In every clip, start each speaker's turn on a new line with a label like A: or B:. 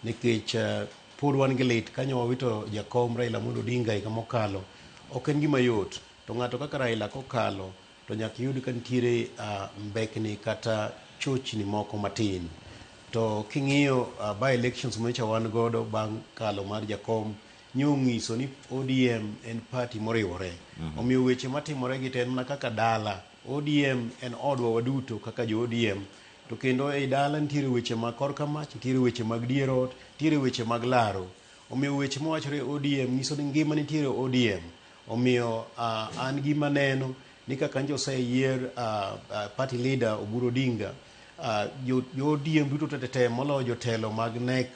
A: Nikech pod wan gi lit ka nyo wawito jakom Raila Amolo Odinga higa mokalo, ok en gima yot. To ng'ato kaka Raila kokalo to nyaka iyud ka nitiere mbekni kata chochni moko matin. To king'iyo by elections manyocha wan godo bang' kalo mar jakom, nyo ng'iso ni ODM en party moriwore. Omiyo weche matimore gi te en mana kaka dala. ODM en odwa waduto kaka jo ODM. To kendo ei dala nitiere weche mag korka mach, nitiere weche mag dier ot, nitiere weche mag laro. Omiyo weche mawachore e ODM nyiso ni ngima nitiere e ODM. Omiyo uh, an gima neno ni kaka nje oseyier uh, uh, party leader Oburu Odinga, uh, jo, jo ODM duto tetete moloyo jotelo mag NEC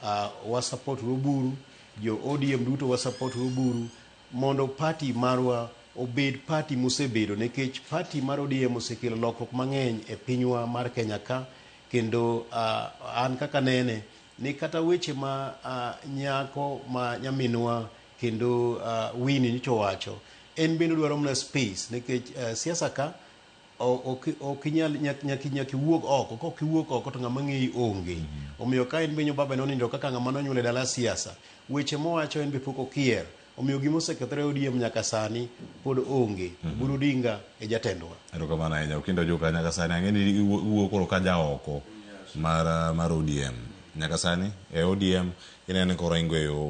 A: uh, wasapot Oburu, jo ODM duto wasapot Oburu, mondo party marwa obed party mosebedo nikech party mar ODM osekelo lokruok mang'eny e pinywa mar Kenya ka kendo uh, an kaka nene ni kata weche ma uh, nyako ma nyaminwa kendo uh, Winnie nyicho wacho en bende dwaro mana space nikech uh, siasa ka ok ok inyal nyak- nyaki nyaki wuog oko kok iwuok oko to ng'ama ng'eyi onge omiyo ka en be nyo baba nonindo kaka ng'ama nonyuol e dala siasa weche mowacho en be pok okier omiyo gima osekethore e ODM nyaka sani pod onge Buru Odinga e jatendwa erokamano ahinya okinda
B: ojuka nyaka sani ang'e ni iwuo iwuo koro ka ja oko mar ah, mar odm nyaka sani e odm ineno ni koro ingo e yo